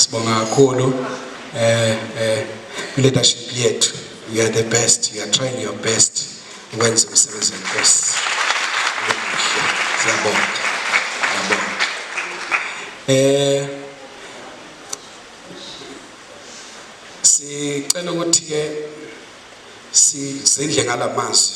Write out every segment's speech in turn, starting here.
Sibonga kakhulu eh eh leadership yethu you are the best you are trying your best ukwenza umsebenzi wenkosi siyabonga siyabonga eh sicela ukuthi ke sidle ngalamazwi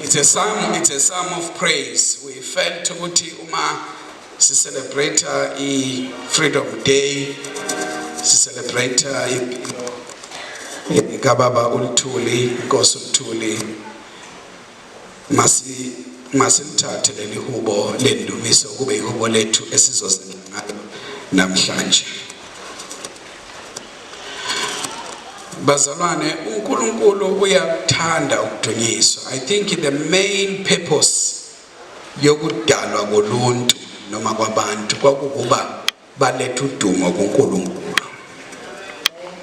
It's a song, it's a song of praise. We felt ukuthi uma si celebrate i Freedom Day, si celebrate impilo kababa uLithuli, inkosi uLithuli. Masi masilithathe leli hubo lendumiso kube ihubo lethu esizozenza ngalo namhlanje. Bazalwane, uNkulunkulu uyakuthanda ukudunyiswa. I think the main purpose yokudalwa koluntu noma kwabantu kwakukuba balethe udumo kuNkulunkulu.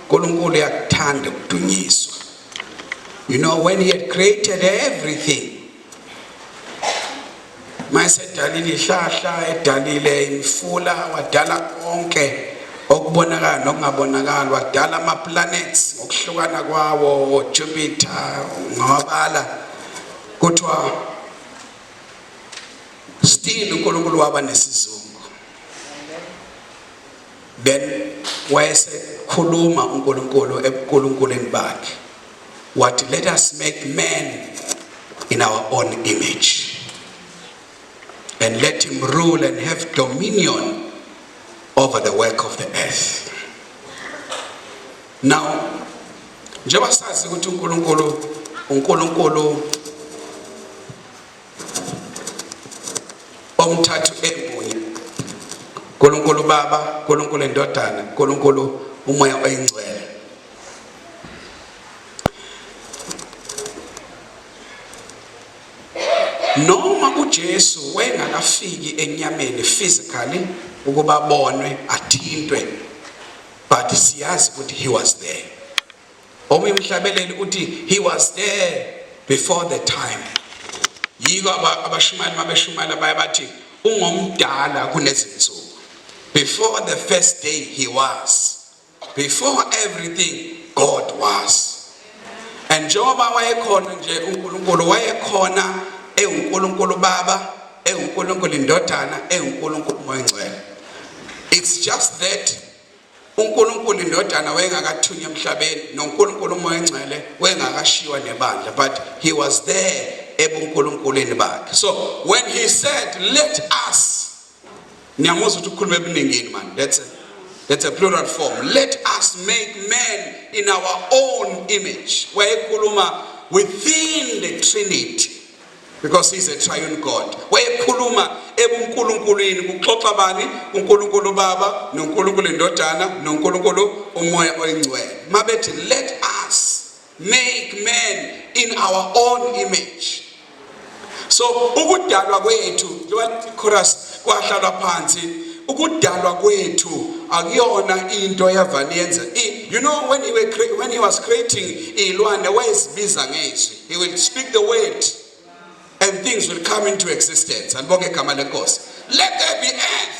uNkulunkulu uyakuthanda ukudunyiswa. You know when he had created everything mayesedalile ihlahla edalile imifula wadala konke okubonakala nokungabonakala wadala ama-planets ngokuhlukana kwawo jupiter ngawabala kuthiwa still unkulunkulu waba nesizungu then wayesekhuluma unkulunkulu ebukulunkuleni bakhe wathi let us make man in our own image and let him rule and have dominion over the work of the earth now njengoba sazi ukuthi uNkulunkulu uNkulunkulu omthathu emunye uNkulunkulu baba uNkulunkulu indodana uNkulunkulu umoya oyingcwele noma uJesu wayengakafiki enyameni physically ukuba bonwe athintwe but siyazi ukuthi he was there omunye umhlabeleli uthi he was there before the time yiko abashumayeli mabeshumayela baye bathi ungomdala kunezinsuku before the first day he was Before everything God was. And njengoba wayekhona nje uNkulunkulu wayekhona ewuNkulunkulu Baba, ewuNkulunkulu Indodana, ewuNkulunkulu Moya Ngcwele. It's just that uNkulunkulu Indodana wayengakathunywa emhlabeni noNkulunkulu Moya Ngcwele wayengakashiywa nebandla but he was there ebuNkulunkulwini bakhe. So when he said let us Ngiyamuzwa ukuthi ukhuluma ebuningini man. That's a, that's a plural form. Let us make man in our own image. Wayekhuluma within the Trinity because he's a triune God. Wayekhuluma ebuNkulunkulwini kuxoxa bani? UNkulunkulu Baba, noNkulunkulu Indodana, noNkulunkulu uMoya oyiNgcwele. Mabethi let us Make man in our own image. So ukudalwa kwethu njengoba chorus kwahlalwa phansi ukudalwa kwethu akuyona into yavani yenza you know when he, were, when he was creating iy'lwane wayezibiza ngezwi he will speak the word and things will come into existence andibonge igama lenkosi let there be earth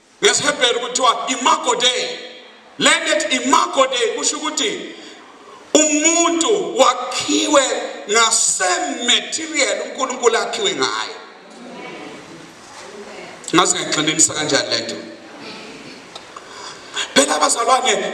NgesiHebheru kuthiwa imago dei. Le nto ethi imago dei kusho ukuthi umuntu wakhiwe ngasematerial uNkulunkulu akhiwe ngayo. Ngazi ngayigxininisa kanjani le nto. Phela abazalwane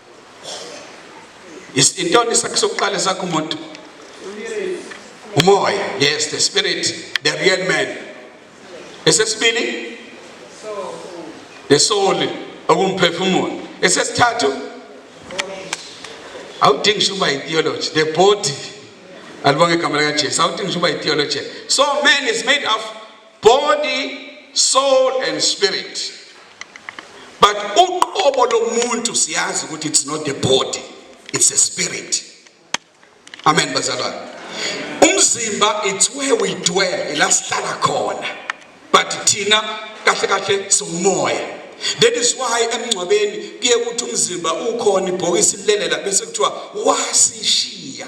Intoni isakhi sokuqala sakho umuntu? Umoya. Yes, the spirit, the real man. Esesibili? The soul, okumphefumulo. Esesithathu? Awudingi ngisho uba i-theology, the body. Alibonge igama likaJesu. Awudingi ngisho uba i-theology. So man is made of body soul and spirit but uqobo lomuntu siyazi ukuthi it's not the body it's a spirit amen bazalwane umzimba it's where we dwell la sihlala khona but thina kahle kahle siwumoya that is why emngcwabeni kuye ukuthi umzimba ukhona ibhokisi lilelela bese kuthiwa wasishiya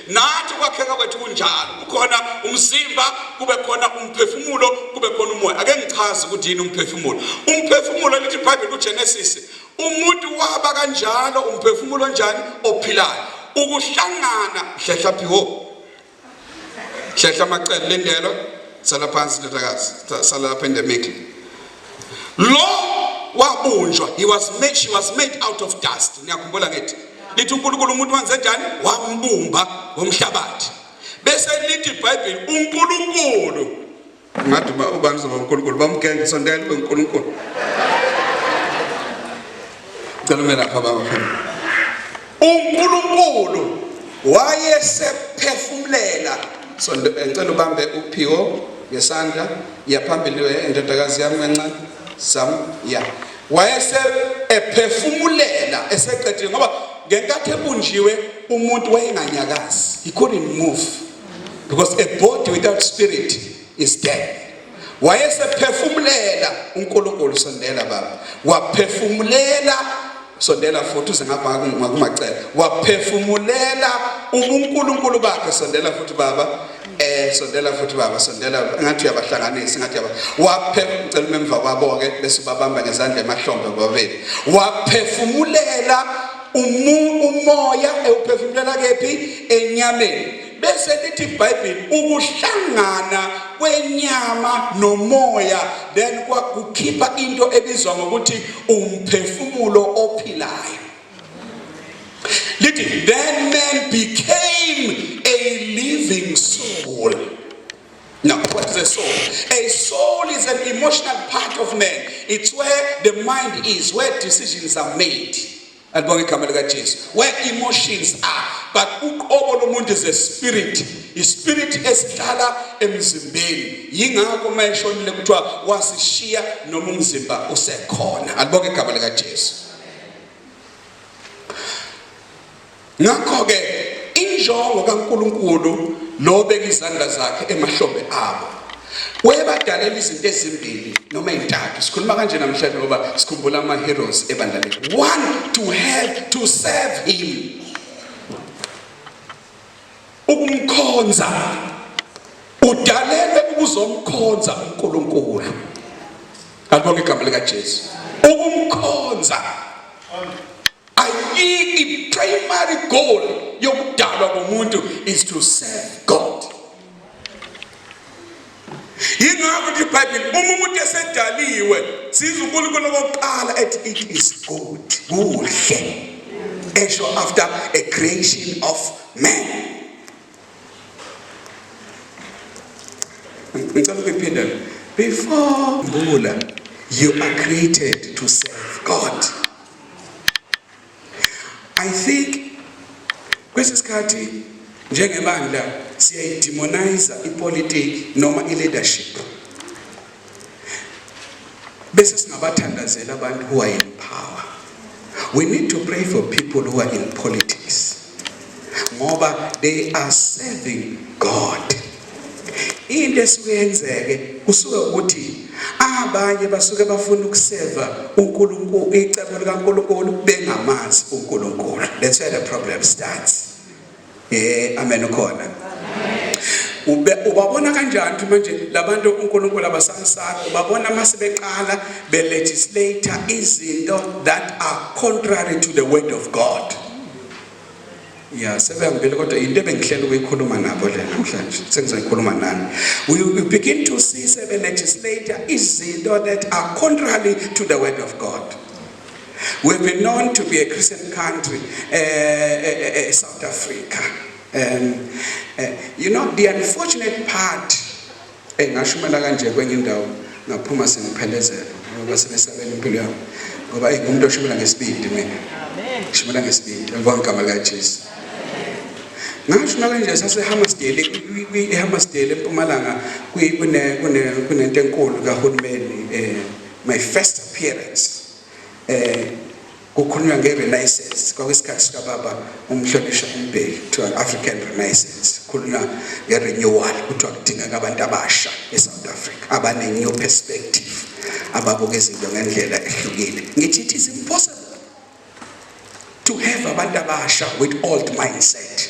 Nathi ukwakheka kwethu kunjalo, kukhona umzimba, kube khona umphefumulo, kube khona umoya. Ake ngichaze ukuthi yini umphefumulo. Umphefumulo lithi iBhayibheli kuGenesis, umuntu waba kanjalo umphefumulo onjani ophilayo. Ukuhlangana hlehla phi ho. Hlehla amacele lendelo, sala phansi ndodakazi, sala lapha endemikle. Lo wabunjwa, he was made, she was made out of dust. Niyakhumbula ngithi lithi uNkulunkulu umuntu wenze njani? Wambumba ngomhlabathi. Bese lithi iBhayibheli uNkulunkulu ngathi uba ubani uzoba uNkulunkulu bamgenge sondela uNkulunkulu Ngicela ume lapha baba phela. UNkulunkulu wayesephefumulela so eh, ngicela ubambe uPhiwo ngesandla yaphambili eh, indodakazi yami kancane sam ya wayese ephefumulela eseqedile ngoba ngenkathi ebunjiwe umuntu wayenganyakazi he couldn't move because a body without spirit is dead wayesephefumulela uNkulunkulu sondela baba waphefumulela sondela futhi uze ngapha ngakumacela waphefumulela uNkulunkulu bakhe sondela futhi baba eh sondela futhi baba sondela ngathi uyabahlanganisa ngathi yaba waphefumulela umemva kwabo ke bese babamba ngezandla emahlombe babeli waphefumulela umoya ewuphefumulela kephi enyameni Bese lithi iBhayibheli ukuhlangana kwenyama nomoya then kwakukhipha into ebizwa ngokuthi umphefumulo ophilayo. Lithi then man became a living soul. Now, what is a soul? A soul is an emotional part of man. It's where the mind is, where decisions are made. Alibonge igama lika Jesu. Where emotions are but uqobo lomuntu is a spirit. Ispirit esihlala emzimbeni. Yingakho mayeshonile kuthiwa wasishiya noma umzimba usekhona. Alibonge igama lika Jesu. Ngakho ke injongo kaNkuluNkulu lo bekizandla zakhe emahlombe abo wayebadalela izinto ezimbili noma ezintathu sikhuluma kanje namhlanje ngoba sikhumbula ama-heroes ebandla lethu one to have to serve him ukumkhonza udalelwe ukuzomkhonza unkulunkulu alibonga igama likajesu ukumkhonza Ayikho primary goal yokudalwa komuntu is to serve God. Yingakho ukuthi iBhayibheli uma umuntu esedaliwe siza uNkulunkulu okokuqala ethi it is good kuhle esho after a creation of man. Ngicela ukuphinda before bula you are created to serve God. I think kwesi sikhathi njengebandla siyayidemonize ipolitiki noma i-leadership bese singabathandazela abantu who are in power we need to pray for people who are in politics ngoba they are serving God. Into esuke yenzeke kusuke ukuthi abanye basuke bafuna ukuseva uNkulunkulu icebo likaNkulunkulu bengamazi uNkulunkulu. That's where the problem starts. Eh amen ukhona. Ube ubabona kanjani ukuthi manje labantu uNkulunkulu abasamsaka ubabona mase beqala be legislate izinto that are contrary to the word of God. ya sebehambile kodwa yinto ebengihlela ukuyikhuluma nabo le namhlanje sengizoyikhuluma nani we, we begin to see sebe-legislate izinto that are contrary to the word of god we've been known to be a christian country uh, uh, uh, south africa um, uh, you know the unfortunate part Eyi ngashumela kanje kwenye indawo ngaphuma sengiphelezelwa ngoba sebesabela impilo yami ngoba eyi ngumuntu oshumela ngesibindi mina shumela ngesibindi alibonga igama likajesu ngashuma kanje sasehammasdale ehammasdale empumalanga kunento enkulu kahulumeni um my first appearance um Kukhulunywa nge Renaissance kwakuyisikhathi sika baba uMhlonishwa uMbheki kuthiwa African Renaissance kukhulunywa nge renewal kuthiwa kudingeka abantu abasha e South Africa abane new perspective ababuka izinto ngendlela ehlukile ngithi it is impossible to have abantu abasha with old mindset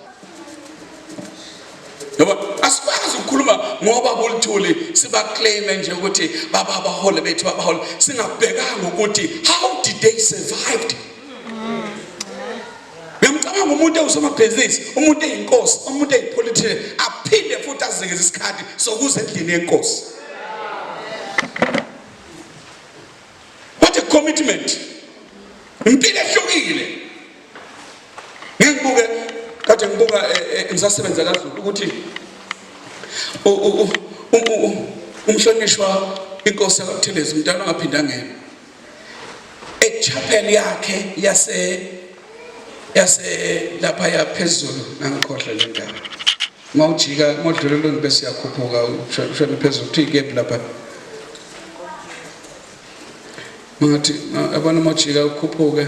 ngoba asikwazi ukukhuluma ngoba bolithuli sibaclaime nje ukuthi baba abahole bethu babahole singabhekanga ukuthi how did they survived ngiyamcabanga umuntu ewusomabhizinisi umuntu eyinkosi umuntu eyipolitician aphinde futhi azekeze isikhathi sokuza endlini yenkosi what a commitment impilo ehlukile ngibuke kade ngibuka eh, eh, ngisasebenza kaZulu ukuthi umhlonishwa inkosi yakuthelezi umntana ongaphinda ngena echapel yakhe yase yase lapha yaphezulu ngangikhohle le ndawo mawujika modlulelweni bese yakhuphuka ushona phezulu kuthi ikephi lapha mangathi abana mawujika ukhuphuke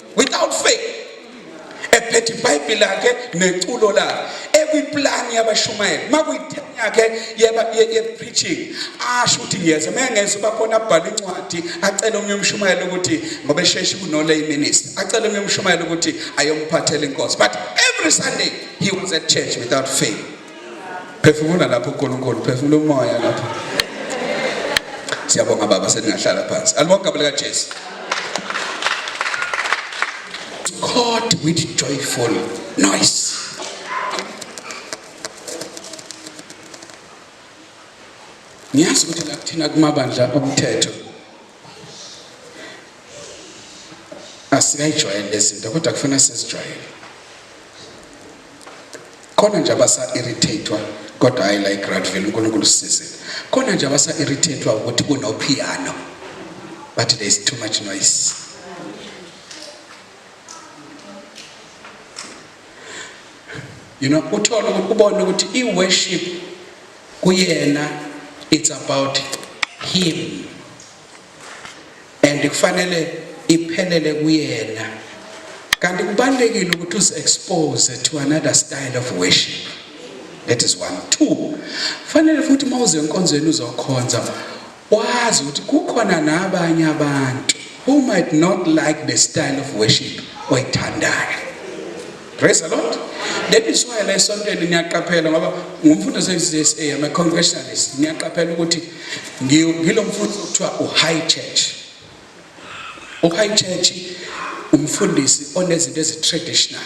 without faith ephethe ibhayibheli lakhe neculo lakhe ekwiplani yabashumayeli makuyi-ten yakhe ye-preaching asho ukuthi ngiyeza uma engeza uba khona abhale incwadi acele omunye umshumayeli ukuthi ngoba esheshi kunolay minister acele omunye umshumayeli ukuthi ayomphathela inkosi but every sunday he was at church without fail phefumula lapho uNkulunkulu phefumula umoya lapho siyabonga baba seningahlala phansi alibonke abelika Jesu God with joyful noise ngiyazi ukuthi lakuthina kumabandla omthetho asiyayijwayele lezinto kodwa kufuna sizijwayele khona nje abasa-irritatewa kodwa hayi la igradville unkulunkulu sisizile khona nje abasa-irritatewa ukuthi kunophiyano but there is too much noise you know uthole ubone ukuthi i-worship kuyena it's about him and kufanele iphelele kuyena kanti kubalekile ukuthi us expose to another style of worship that is one two fanele futhi mawuze enkonzweni uzokhonza Wazi ukuthi kukhona nabanye abantu who might not like the style of worship oyithandayo. Praise the Lord. That is why la esontweni niyaqaphela ngoba ngumfundo seziSA I'm a congregationalist. Niyaqaphela ukuthi ngilomfundo kuthiwa u high church. U high church umfundisi onezinto ezi traditional.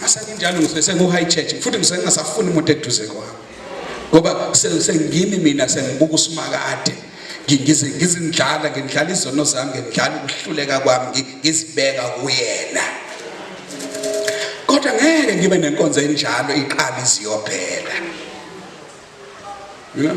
masenginjalo ngisuke sengu-high church futhi ngisuke ngingasafuni umuntu eduze kwami ngoba sengimi mina sengibuka usimakade ngize ngizindlala ngindlala izono zami ngindlala ukuhluleka kwami ngizibeka kuyena kodwa ngeke ngibe nenkonzo enjalo iqala iziyophela you know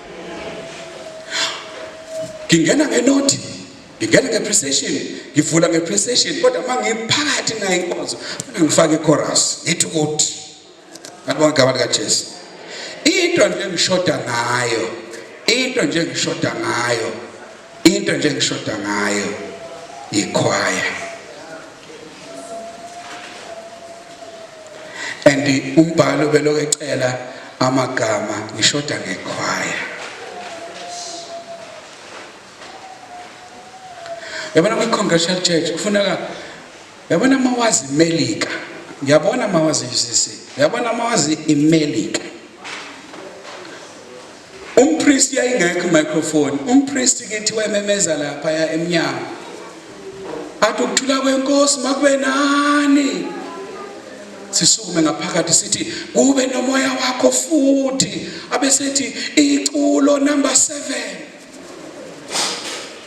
ngingena ngenothi ngingena ngeprecision ngivula ngeprecision kodwa uma ngiphakathi nayo inkonzo funa ngifake ichorus ngithi ukuthi ngabonga igama likajesu into nje engishoda ngayo into nje engishoda ngayo into nje engishoda ngayo yikhwaya and umbhalo belokhu ecela amagama ngishoda ngekhwaya yabona kwi-congressional church kufuneka yabona uma wazi imelika ngiyabona uma wazi i-ucc yabona uma wazi imelika Umpristi yayingekho microphone. Umpristi kithi wememeza lapha ya emnyango. Athi ukuthula kwenkosi makube nani. Sisukume ngaphakathi sithi kube nomoya wakho futhi abesethi iculo number 7.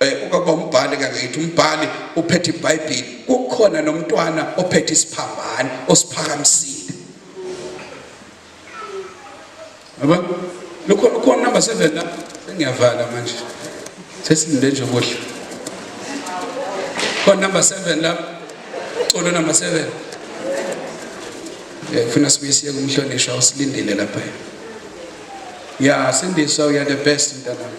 Eh, ubaba umbhali kangayithi umbhali uphethe ibhayibhili kukhona nomntwana ophethe isiphambane osiphakamisile yabo lokho lokho number 7 la sengiyavala manje sesilinde nje kuhle khona number 7 la colo number 7 eh funa sibuye siye kumhlonishwa usilindile lapha ya sindiswa uya the best mntanami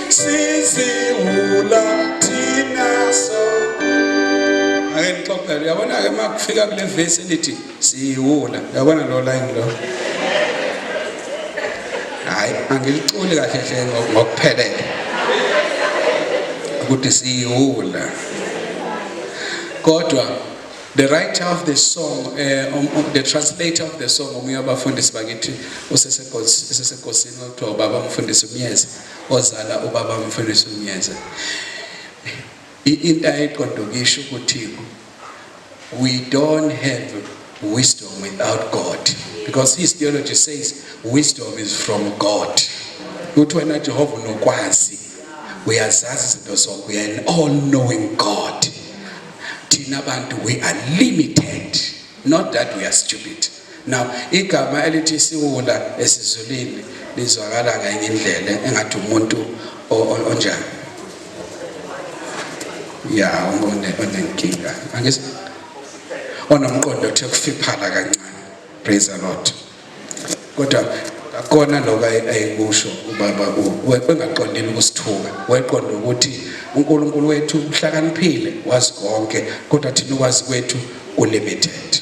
siziwula thina so ake nixophele uyabona ke uma kufika kule vesi elithi siyiwula uyabona lo line lo hayi angiliculi kahle hle ngokuphelele ukuthi siyiwula kodwa the writer of the song uh, um, um, the translator of the song omunye wabafundisi bakithi usesegosini okuthiwa ubaba umfundisi umyeza ozala ubaba Mfundisi Mnyeze into ayiqondokisho ukuthi we don't have wisdom without God because his theology says wisdom is from God uthi wena Jehova unokwazi uyazazi izinto zonke uya an all knowing God thina bantu we are limited not that we are stupid Now igama elithi isiwula esizulwini lizwakala ngenye indlela engathi umuntu onjani. Ya umuntu onenkinga. Angis onomqondo othe kufiphala kancane. Praise the Lord. Kodwa akona lokho ayikusho ubaba wengaqondile ukusithuka weqonda ukuthi uNkulunkulu wethu uhlakaniphile wazi konke kodwa thina ukwazi kwethu kulimited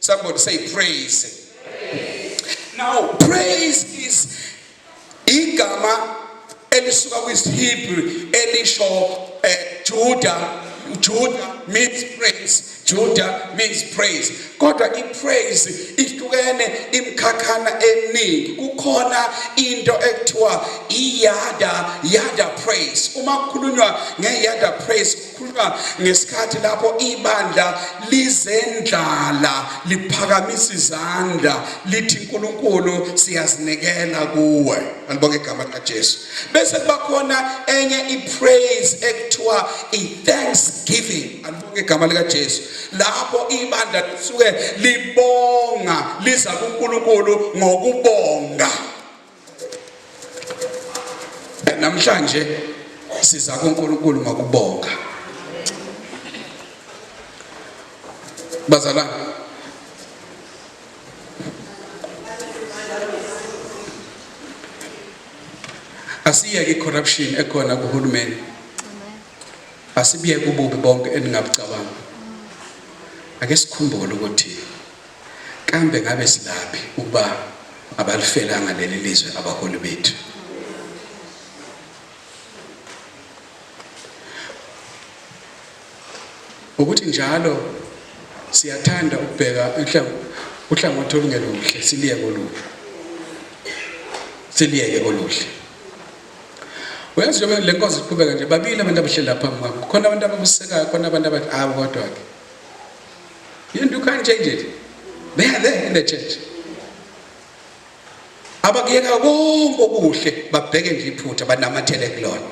Somebody say praise. Now praise is igama elisuka kwisiHebrew elisho eh, Judah Judah means praise Judah means praise kodwa ipraise ihlukene imkhakhana eminingi kukhona into ekuthiwa iyada yada praise uma kukhulunywa ngeyada praise Khuluma ngesikhathi lapho ibandla lizendlala liphakamisa izandla lithi uNkulunkulu siyazinikela kuwe alibonge igama likaJesu bese kubakhona enye ipraise ekuthiwa ithanksgiving alibonge igama likaJesu lapho ibandla lisuke libonga liza kuNkulunkulu ngokubonga namhlanje siza kuNkulunkulu ngokubonga bazalwane asiyeke corruption ekhona kuhulumeni asibiyeke ububi bonke eningabucabanga ake sikhumbule ukuthi Kambe ngabe silaphi ukuba abalifelanga leli lizwe abaholi bethu? Ukuthi njalo siyathanda ukubheka uhlangothi olungeluhle siliyeke olubi siliyeke oluhle uyazi njengoba le nkonzo iqhubeka nje babili abantu abahleli lapha phambi kwami khona abantu abakusekayo khona abantu abathi awu kodwa-ke You, you can't change it. They are there in the church. Abakuyeka konke okuhle babheke nje iphutha banamathele kulona.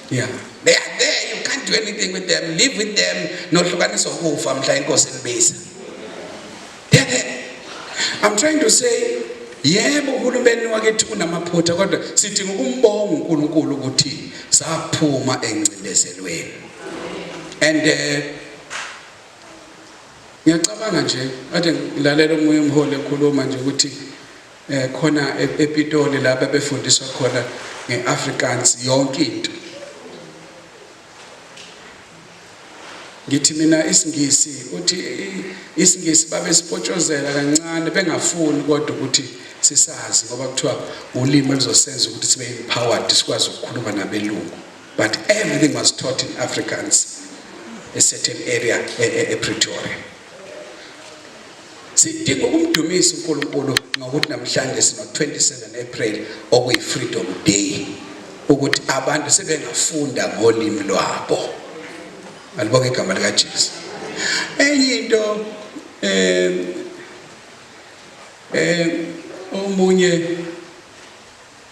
Yeah. They are there. You can't do anything with them. Live with them. Nohlukanisa ukufa mhla inkosi nibiza. They are there. I'm trying to say yebo uhulumeni wakithi unamaphutha kodwa sidinga ukumbonga uNkulunkulu ukuthi saphuma engcindezelweni. And uh, Ngiyacabanga nje kade ngilalela omunye umholi ekhuluma nje ukuthi eh khona e-, ePitoli lapha befundiswa khona ngeAfrikaans yonke into. Ngithi mina isingisi uthi isingisi babesipotshozela kancane bengafuni kodwa ukuthi sisazi ngoba kuthiwa ulimi elizosenza ukuthi sibe empowered sikwazi ukukhuluma nabelungu. But everything was taught in Afrikaans, a certain area, a, a, a Pretoria. Sidinga ukumdumisa uNkulunkulu ngokuthi namhlanje sino 27 April okuyi Freedom Day ukuthi abantu sebengafunda ngolimi lwabo. Alibonge igama lika Jesu. Enye into eh eh omunye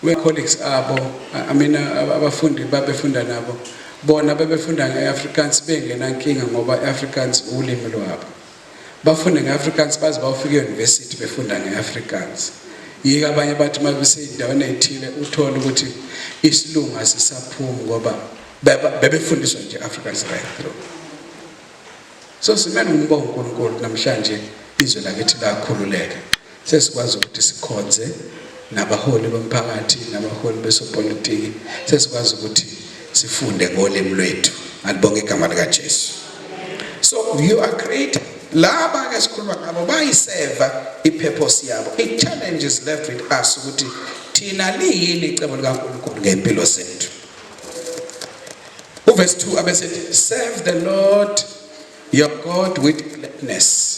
We colleagues abo, I mean abafundi babefunda nabo. Bona bebefunda ngeAfrikaans bengenankinga ngoba iAfrikaans ulimi lwabo. Bafunde ngeAfrikaans baze bawufika euniversity befunda ngeAfrikaans. Yika abanye bathi mabesezindaweni ezithile uthola ukuthi isilungu asisaphumi ngoba bebefundiswa nje Afrikaans right through. So simele umbongo uNkulunkulu namhlanje izwe lakithi lakhululeka. Sesikwazi ukuthi sikhonze nabaholi bomphakathi nabaholi besopolitiki sesikwazi ukuthi sifunde ngolimi lwethu alibonge igama likaJesu so you are creating laba ke sikhuluma ngabo bayiseva i-purpose yabo i-challenge is left with us ukuthi thina liyini icebo likaNkulunkulu ngempilo zethu uverse 2 abesethi serve the lord your god with gladness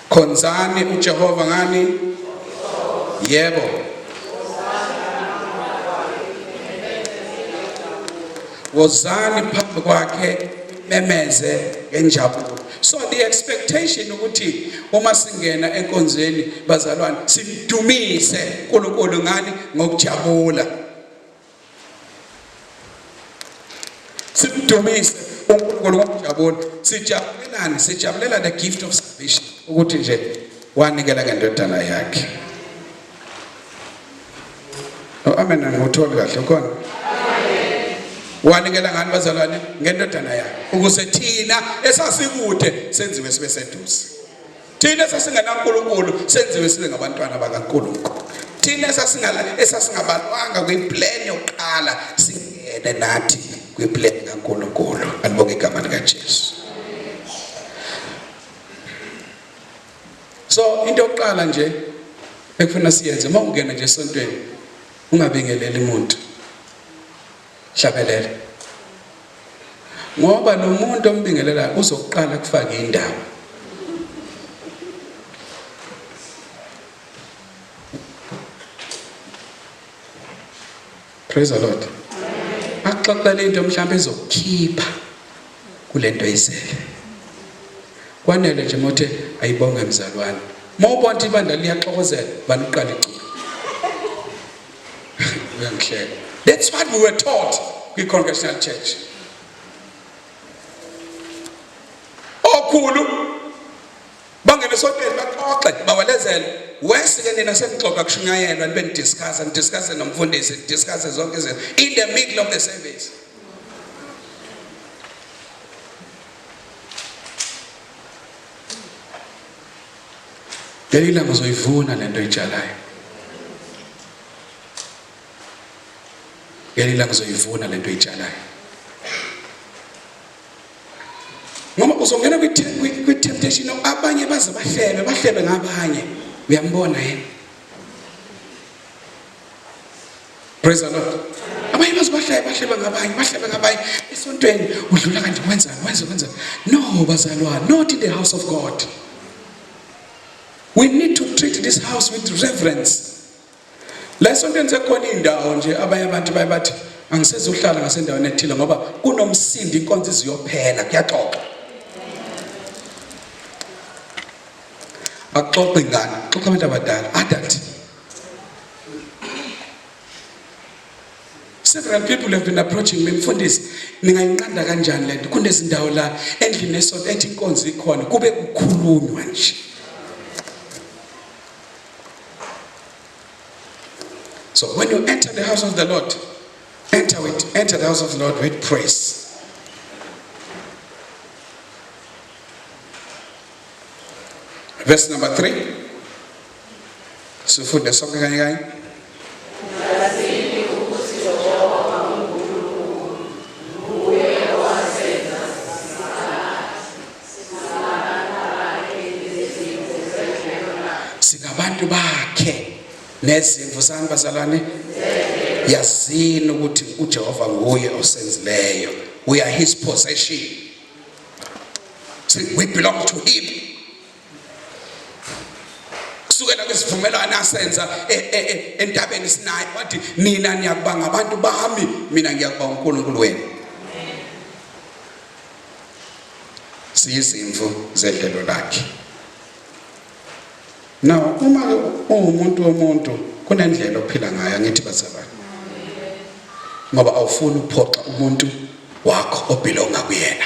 Khonzani uJehova ngani? Yebo. Wozani phambi kwakhe memeze ngenjabulo. So the expectation ukuthi uma singena enkonzweni bazalwane simdumise uNkulunkulu ngani ngokujabula. Simdumise uNkulunkulu ngokujabula. Sijabulelani? Sijabulela the gift of salvation ukuthi nje wanikela ngendodana yakhe. No oh, amen angiwutholi kahle ukhona. Wanikela ngani bazalwane? Ngendodana yakhe ukuze thina esasikude senziwe sibe seduze. thina esasingenankulunkulu senziwe sibe ngabantwana bakankulunkulu thina esasingabalwanga kwipleni yokuqala singene nathi kwipleni kankulunkulu alibonge igama likajesu so into yokuqala nje ekufuna siyenze uma ungena nje esontweni ungabingeleli muntu Hlabelela. Ngoba lo muntu ombingelelayo uzokuqala kufaka indaba. Praise the Lord. Axoxele into mhlawumbe ezokukhipha kulento oyizele. Kwanele nje mothe ayibonge mzalwane. Mawubona ibandla liyaxokozela baniqala iculo. uyangihleka that's what we were taught kwi-congregational church okhulu bangene esoteni baxoxe bawelezele wesike nina senixoxa kushunyayelwa nibe nidiscussa nidiscusse nomfundisi nidiscusse zonke izinto in the middle of the service Ngeke ilanga uzoyivuna lento oyitshalayo. Ngeke ilanga uzoyivuna lento oyitshalayo. Ngoba uzongena kwi kwi temptation abanye baze bahlebe, bahlebe ngabanye. Uyambona yena? Praise the Lord. Abanye baze bahlale bahlebe ngabanye, bahlebe ngabanye. Esontweni udlula kanti wenza, wenza, wenza. No bazalwane, not in the house of God. We need to treat this house with reverence. La esontweni sekhona indawo nje abanye abantu baye bathi angisezohlala ngasendaweni ethile ngoba kunomsindo inkonzo iziyophela kuyaxoxa. Baxoxe ngani? Xoxa abantu abadala, adult. several people have been approaching me mfundisi ningayinqanda kanjani lento kunezindawo la endlini esonto ethi inkonzo ikhona kube kukhulunywa nje so when you enter the house of the lord enter with enter the house of the lord with praise verse number 3 Sifunde sonke kanye kanye. singabantu bakhe nezimvu sani bazalwane yazini ukuthi uJehova nguye osenzileyo we are his possession we belong to him kusukela kwisivumelwano asenza e, e, e, entabeni sinayo wathi nina niyakuba ngabantu bami mina ngiyakuba uNkulunkulu wenu siyizimvu zedlelo lakhe now uma ungumuntu womuntu kunendlela ophila ngayo ngithi bazalwane ngoba awufuni ukuphoxa umuntu wakho obhilonga kuyena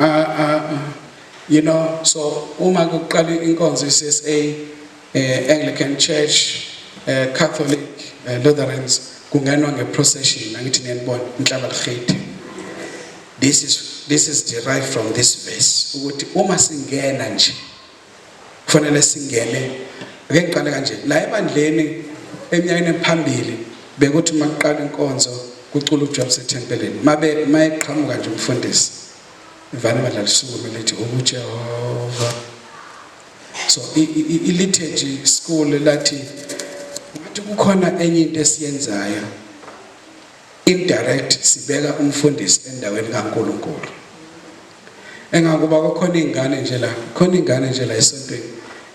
uh, uh, you know so uma kuqala inkonzo iCSA eh, Anglican Church eh, Catholic eh, Lutherans kungenwa ngeprocession angithi niyanibona inhlaba likhiti this is this is derived from this verse ukuthi uma singena nje Kufanele singene ake ngiqale kanje la ebandleni eminyakeni ephambili bekuthi uma kuqala inkonzo kucula uJob sethempelini mabe mayeqhamuka nje umfundisi ivana ibandla lisukume lithi uJehova so i-liturgy school lathi ngathi kukhona enye into esiyenzayo indirect sibeka umfundisi endaweni kaNkuluNkulu Engangoba kukhona izingane nje la, khona izingane nje la esontweni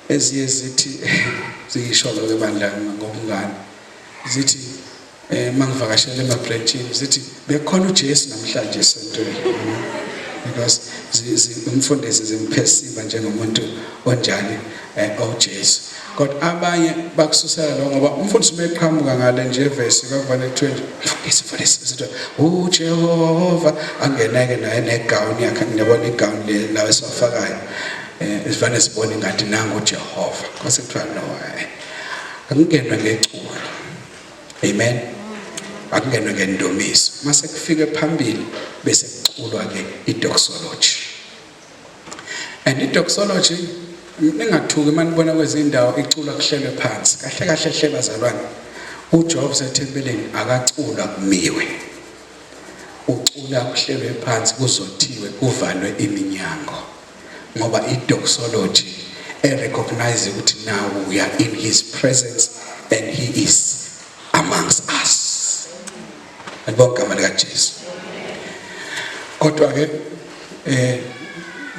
eziye zithi ziyisho lo ke bandla ngobungane. Zithi eh mangivakashela ema branchini zithi bekhona uJesu namhlanje esontweni. Because umfundisi zimphesiba njengomuntu onjani eh uJesu. Kodwa abanye bakususela lo ngoba umfundisi uma eqhamuka ngale nje vesi kwakubona kuthiwe nje mfundisi mfundisi sithi uJehova angeneke naye negown yakhe ngiyabona igown le la esafakayo eh isivane sibone ngathi nangu uJehova kwase kuthiwa no eh, akungenwe ngeculo amen akungenwe ngendumiso mase kufike phambili bese kuculwa ke idoxology And idoxology ningathuki manibona kwezindawo iculwa kuhlelwe phansi. Kahle kahle hle bazalwane. UJobs ethempelini akaculwa kumiwe. Ucula kuhlelwe phansi kuzothiwe kuvalwe iminyango. Ngoba idoxology erecognize ukuthi now we are in his presence and he is amongst us. Alibonga igama likaJesu. Kodwa-ke eh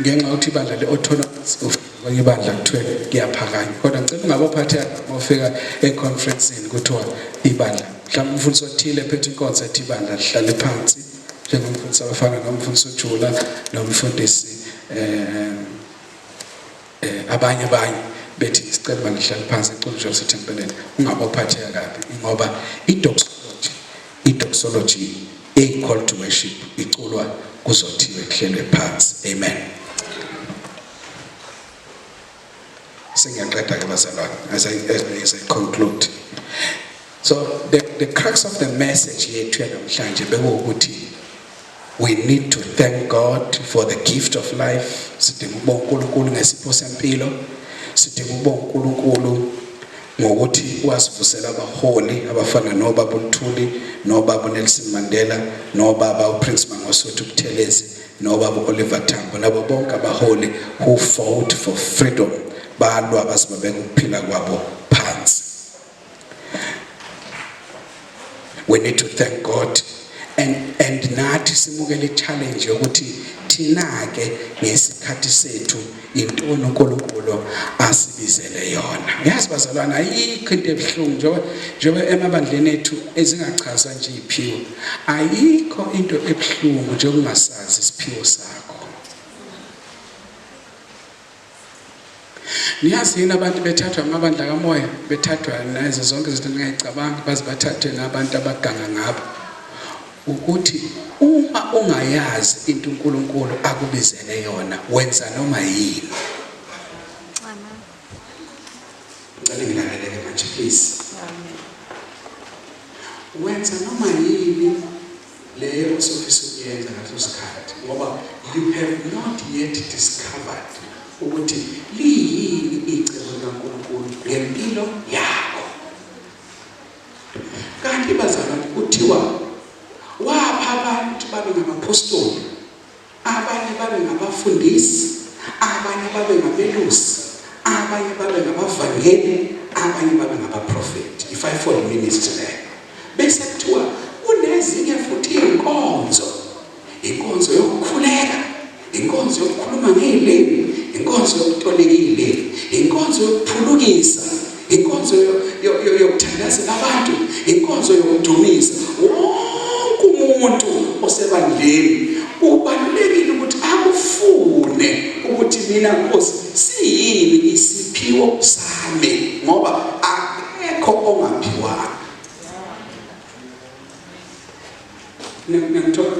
ngenxa yokuthi ibandla le-orthodox kwenye ibandla kuthiwe kuyaphakanywa kodwa ngicela ungabophatheka uma ufika econferenceni kuthiwa ibandla mhlawumbe umfundisi othile ephethe inkonzo ethi ibandla lihlale phansi njengomfundisi abafana nomfundisi ujula nomfundisi um Eh, abanye abanye bethi isicelo bangihlale phansi eCulture City empeleni ungabe uphatheka kabi ngoba idoxology idoxology eyi call to worship iculwa kuzothiwe kuhlelwe phansi amen sengiyaqeda ke bazalwane as i as i conclude so the the crux of the message yethu namhlanje bekuwukuthi We need to thank God for the gift of life. Sidinga ukubonga uNkulunkulu ngesipho sempilo. Sidinga ukubonga uNkulunkulu ngokuthi wasivusela abaholi abafana nobaba uLuthuli nobaba uNelson Mandela nobaba uPrince Mangosuthu Buthelezi nobaba uOliver Tambo labo bonke abaholi who fought for freedom balwa basibabeka ukuphila kwabo phansi we need to thank god and and nathi simukele challenge yokuthi thina ke ngesikhathi sethu intoni uNkulunkulu asibizele yona yazi bazalwana ayikho into ebuhlungu njengoba njengoba emabandleni ethu ezingachaza nje iphiwo ayikho into ebuhlungu njengokungasazi isiphiwo sakho Niyazi yini abantu bethathwa amabandla kamoya bethathwa nazo zonke izinto ningayicabanga baze bathathwe ngabantu abaganga ngabo ukuthi uma ungayazi into uNkulunkulu akubizele yona wenza noma yini ngicela ngilaleleke manje please wenza noma yini leyo osofisa ukuyenza ngaleso sikhathi ngoba you have not yet discovered ukuthi liyini icebo likaNkulunkulu ngempilo yakho kanti bazalwane kuthiwa wapha abantu babe ngamaphostoli Abanye babe ngabafundisi, abanye babe ngabelusi, abanye babe ngabavangeli, abanye babe ngabaprofethi. I-fivefold ministry leyo. Bese kuthiwa kunezinye futhi iy'nkonzo, inkonzo yokukhuleka, inkonzo yokukhuluma ngey'limi, inkonzo yokutolika iy'limi, inkonzo yokuphulukisa, inkonzo yokuthandaza abantu inkonzo yokudumisa wonke umuntu osebandleni ubalulekile ukuthi akufune ukuthi mina nkosi siyini isiphiwo sami ngoba akekho ongaphiwanga niyangithola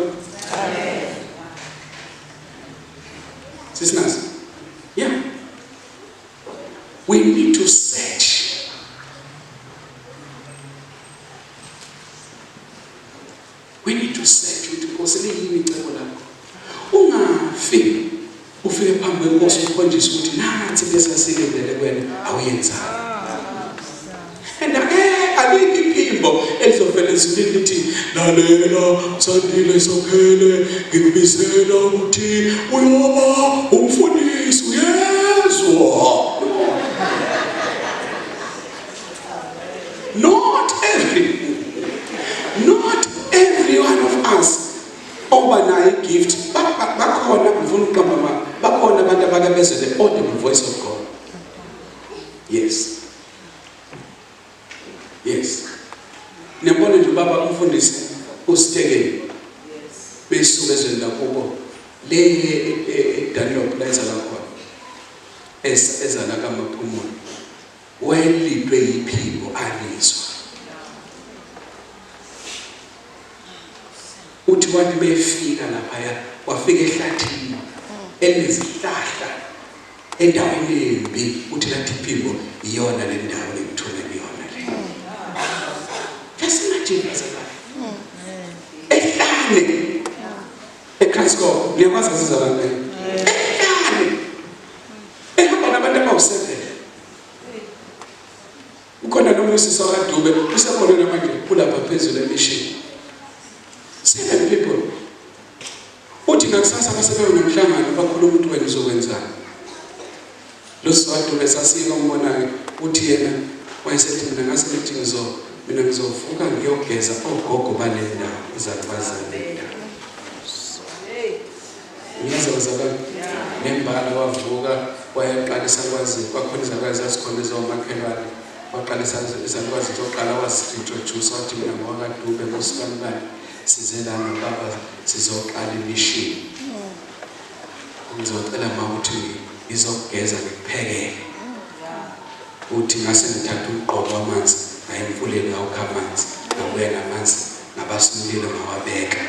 sisinazi yeah We need to search. We need to search ukuthi Nkosi liyini icebo lakho. Ungafi ufike phambi kwenkosi ukhonjiswe ukuthi nansi lesasilindele kwena awuyenzanga. And angeke alikho iphimbo elizovele lisilinde ukuthi lalela Sandile Sokhele ngikubizela ukuthi uyoba umfundisi uyezwa. Not every not every one of us oba nayo gift bakhona ngifuna ukuqamba mama bakhona abantu abakabezele audible voice of God. Yes. yes niyabona nje baba umfundisi usitekeni besuke ezweni lakubo le edanlop e, e, la ezala khona ezala kamaphumulo wayelidwe yiphiko alizwa uthi wathi befika laphaya wafika ehlathini enezihlahla Endaweni embi uthi kanti impilo iyona le ndawo engithola kuyona le. Just imagine bazalwane. Ehlane. Ekhasiko liyakwazi sizalwane. Ehlane. Ehamba nabantu abawuseven. Ukhona nomunye usisi wakaDube usekhona namanje ulapha phezulu emishini. Seven people. Uthi ngakusasa basebewe nomhlangano bakhuluma ukuthi wena uzokwenzani. Lo sisi waDube sasiyeka umbonake uthi yena wayesethi mina ngase ngithi ngizo mina ngizovuka ngiyogeza ogogo bale ndawo izalibazane. Ngiyeza bazalwane. Ngembala wavuka wayeqalisa kwazi kwakhona izalukwazi zazikhona ezomakhelwane. Waqalisa izalukwazi zoqala wazi-introduce wathi mina ngowakadube ngosikamkani size lana baba sizoqala imishini. Ngizocela ma ukuthi ngizokugeza ngikuphekele. Uthi ngase ngithatha umgqobo wamanzi ngaye emfuleni ngawukha amanzi ngabuya namanzi ngabasilile ngawabeka.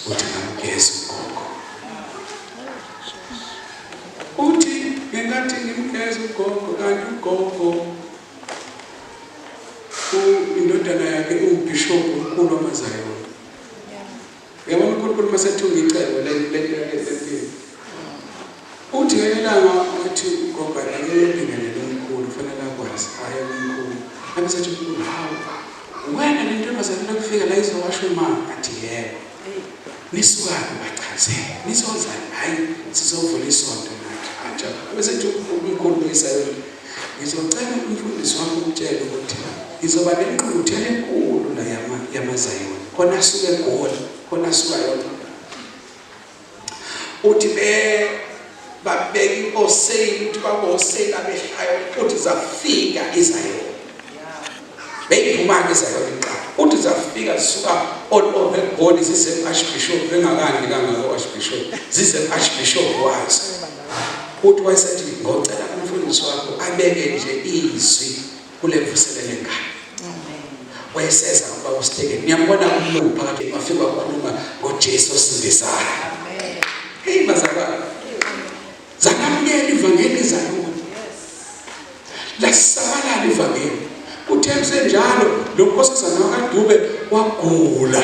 Uthi ngamgeza ugogo. Uthi ngenkathi ngimgeza ugogo kanti ugogo indodana yakhe iwubhishobhu omkhulu wamazayona. Yabona uNkulunkulu uma sethunga icebo lempilo. Uthi ngelinye ilanga wathi ugogo anikele umbingelele umkhulu kufanele akwazi waya kumkhulu abiza athi mkhulu hawu uwena le ntombazane lokufika la izowasho imama athi yebo nisukaphi bachazele nizozani hhayi sizovula isonto nathi aja besethi umkhulu kuyisayona ngizocela umfundisi wami ukutshela ukuthi ngizoba nenqunguthela enkulu la yamazayona khona asuke egoli khona asuka yona uthi be babeka inkoseyini ukuthi baboseyini abehlayo uthi zafika izayona beyiphuma-ke izayona iqala uthi zafika zisuka all over egoli zisem-archbishop bengakandi kangako archbishop zisem-archbishop wazo uthi wayesethi ngocela umfundisi wakho abeke nje izwi kule mvuselelo enkalo wayeseza kuba usithekeni ngiyambona umlungu phakathi wafika wakhuluma ngojesu osindisayo heyi bazalwane zangamukela ivangeli zakubo lasisabalala ivangeli kuthe kusenjalo lo nkosazana wakadube wagula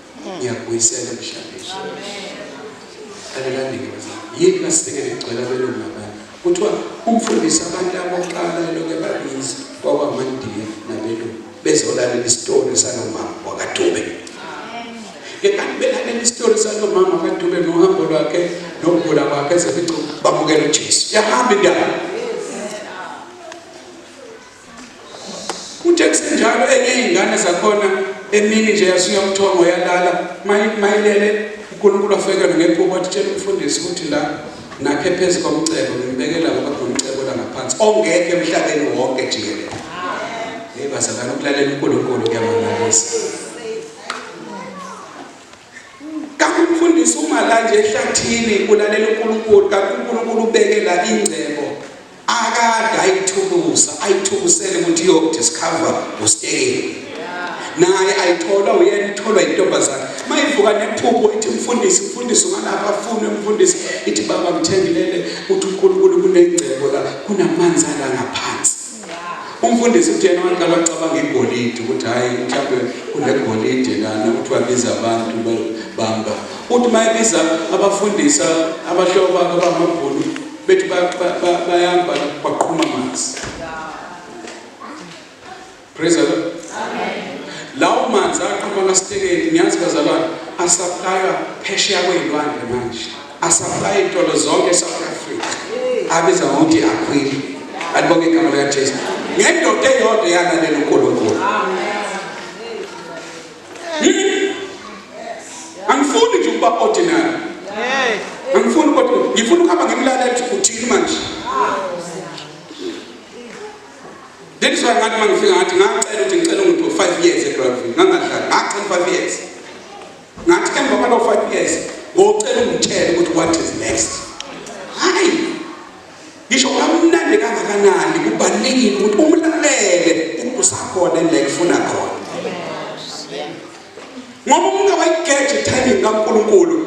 ngiyakubuyisela emhlabeni alelandike yini masibeke ngigcwela belungu labanye kuthiwa ukufundisa abantu abokuqala eloke babizi kwakwamandiya nabelungu bezolalela isitori salomama wakadube ngekanti belalela isitori salomama wakadube nohambo lwakhe nokugula kwakhe ezeficu bamukela ujesu yahamba indaba Kuthe kusenjalo enye yey'ngane zakhona emini nje yasuya umthongo yalala mayilele uNkulunkulu wafekelwa ngephupho wathi tshela umfundisi ukuthi la nakhe phezu komcebo ngimbekela ngoba kunomcebo langaphansi ongekho emhlabeni wonke jikelele hey bazalana ukulalela uNkulunkulu kuyamangalisa Kanti umfundisi uma la nje ehlathini ulalela uNkulunkulu kanti uNkulunkulu ubekela ingcebo akade ayithukusa ayithubusele ukuthi iyokuthi sikhava ustekeni naye ayithola uyena itholwa intombazane mayivuka nephupho ithi mfundisi mfundisi ungalapha afune mfundisi ithi baba ngithengelele uthi uNkulunkulu kunengcebo la kunamanzi ala ngaphansi Umfundisi uthena abantu abacabanga igolide ukuthi hhayi mhlawumbe kunegolide lana ukuthi wabiza abantu bamba uthi uma ebiza abafundisa abahlobo bakhe abamabhulu bethi bayamba baqhuma amanzi praise the lord lawo manzi aqhuma kasithekeni ngiyazi bazalwane asaplaywa phesheya kwey'lwandle manje Asaplaya iy'tolo zonke e-South Africa abiza ngokuthi akhwili alibonge igama likaJesu ngendoda eyodwa eyalalela uNkulunkulu angifuni nje ukuba ordinary angifuni kodwa ngifuna ukuhamba ngimlalela ukuthi uthini manje That is why ngathi mangifika ngathi ngacela ukuthi ngicela umuntu 5 years eGravity ngangadlali ngacela 5 years ngathi emva kwalo 5 years ngocela ungitshele ukuthi what is next hayi ngisho kamnandi kangakanani kubalekile ukuthi umlalele ukuthi usakhona endlela efuna khona ngoba umuntu wayigeje timing kaNkulunkulu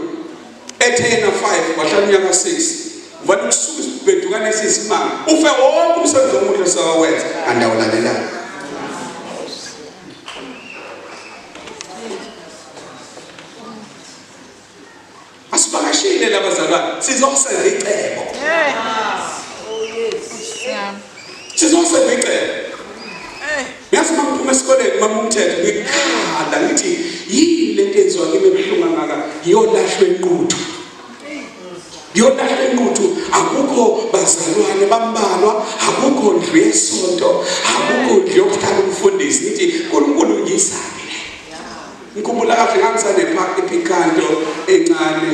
ethe yena 5 wahlala unyaka 6 vale kusuka isibhedukane esisimanga ufe wonke umsebenzi omuhle sawawenza andawulalelanga Asibakashile labazalwane sizosenza icebo. Sizosenza icebo. Yazi uma ngiphuma esikoleni mama umthetho ngikhala ngithi yini lento enziwa kimi ebuhlungu angaka yolashwe inquthu. yona enquthu akukho bazalwane bambalwa akukho ndlu yesonto akukho ndlu yokuhlala umfundisi ngithi unkulunkulu ngiyisaphi le ngikhumbula kahle ngangisanepaki ephikanto encane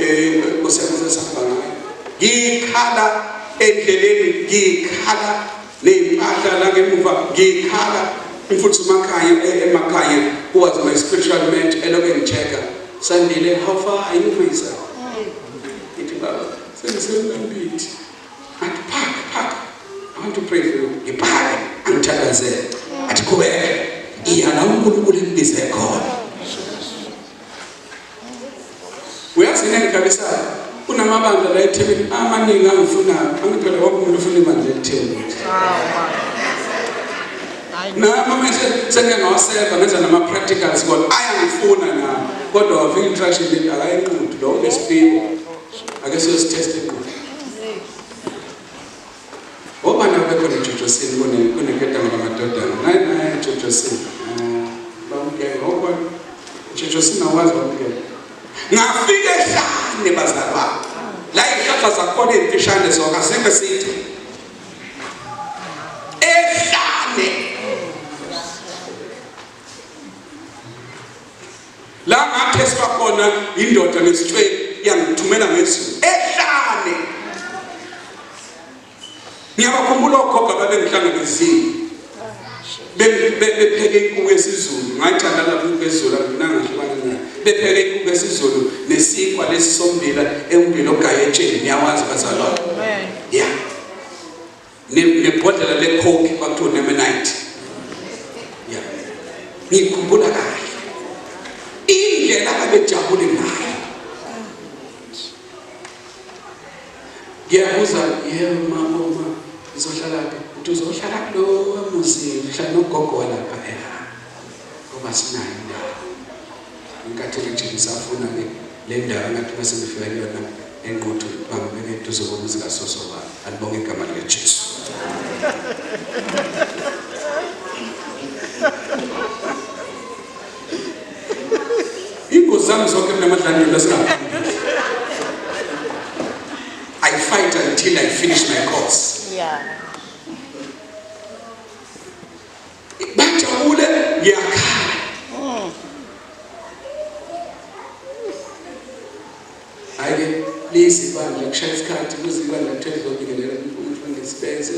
um osekusesahamba ngayo ngikhala endleleni ngikhala ney'mpahla nangemuva ngiyikhala mfuthu umakhaya eh, emakhaya was my spiritual ment eloke ngitheka sandile how far are you misa ithi baba sengisemlambithi athi phaka phaka i want to pray for you ngiphake angithakazele athi qhubeka iya la unkulunkulu engibize khona uyazi yini engigalisayo kunamabandla la ethebeni amaningi angifunayo angiphela wonke umuntu ufuna ibandla elitheni nami mese sengike ngawaseva ngenza nama-practicals kodwa ayangifuna na kodwa wavika instruction leti akayenqudi lo unesiphiwo ake siyosithesta inqudi Ngoba nawe bekhona eJojosini kuneketanga lamadodana. Naye naye eJojosini. Bamukele. Ngoba eJojosini awazi bamukele. Ngafika ehlane bazalwa. La ihlahla zakhona ezimfishane zonke asikho eside. Ehlane. La ngatheswa khona indoda nesitshweli yangithumela ngezulu ehlane. Ngiyabakhumbula ogogo ababengihlangabezile. Bepheke inkuku yesizulu, ngayithanda lapho inkuku yesizulu anginanga hlukana nayo. Bepheke inkuku yesizulu nesinkwa lesi sombila ewumbila ogayetsheni, niyawazi bazalwane. Yeah. nebhodlela lekhoki kwakuthiwa nemenite ya ngikhumbula kahle indlela abebejabule ngayo ngiyabuza yebo mama uma ngizohlala phi uthi uzohlala kulowa muzini uhlala nogogo walapha eha ngoba sinayo indawo inkathele nje ngisafuna ke Lendawo engathi uma sengifika kuyona engqotho bangibeke eduze komuzi kasoso wami. Alibonge igama likaJesu. Ingozi zami zonke mina amadlangelo esingaphambili. I fight until I finish my course. Yeah. bajabule ngiyakhala ayike lezi bandla kushaya isikhathi kuzibandla kuthe zizobingelela umfundisi sibenze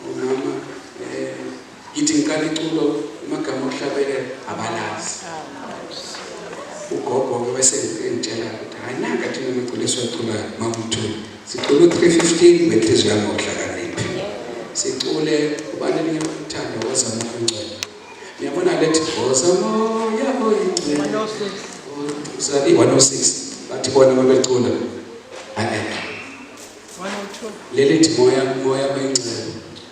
umama eh, ngithi ngiqala iculo amagama okuhlabelela abalazi ugogo-ke wesengitshela ukuthi hhayi nanga thina maculiswa culayo makuthula Sicula u-315 ngenhliziyo yami ngokuhlakanipha. Sicule ubani elinye uthando wozama ongcwele. Niyabona lethi wozama yabo ingcwele. 106. 106. Bathi bona babecula. Amen. 102. Lelithi moya moya oyingcwele.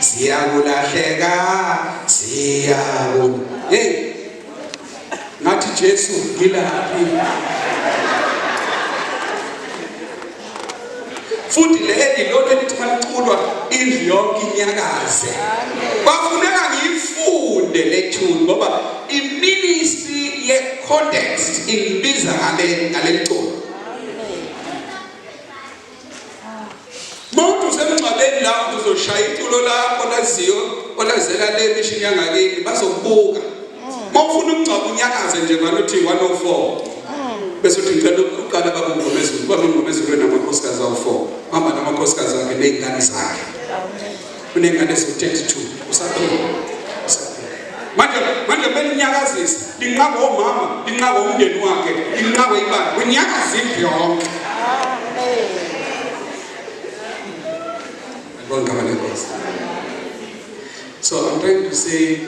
siyakulahleka siyaku hey ngathi Jesu ngilaphi futhi leli lonke lithi maliculwa indlu yonke inyakaze kwafuneka ngiyifunde le tune ngoba iministry ye context ingibiza ngale ngaleli culo Muntu usemngcwabeni la uzoshaya iculo lakho laziyo olazela le mishini yangakini bazokubuka. Mawufuna umngcwabo unyakaze nje balothi 104. Bese uthi ngicela ukuqala babungomezulu babungomezulu namakhosikazi awu4. Hamba namakhosikazi akhe nezingane zakhe. unengane eziwu-32 usaphila manje manje belinyakazisa linqaba omama linqaba umndeni wakhe linqaba ibala kunyakaza indlu yonke so i'm trying to say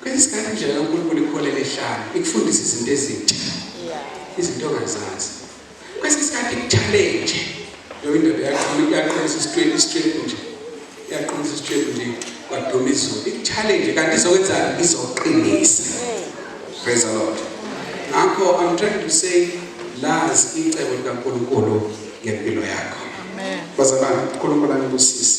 Kwesinye isikhathi indlela kaNkulunkulu ikuholela ehlane, ikufundisa izinto ezintsha, izinto ongazazi. Kwesinye isikhathi ikuchallenge leyo indoda yaqinisa isitwebu isitwebu nje yaqinisa isitwebu nje kwaduma izulu ikuchallenge kanti izokwenzani izoqinisa praise the lord ngakho i'm trying to say lazi icebo likaNkulunkulu ngempilo yakho bazalwane uNkulunkulu anibusise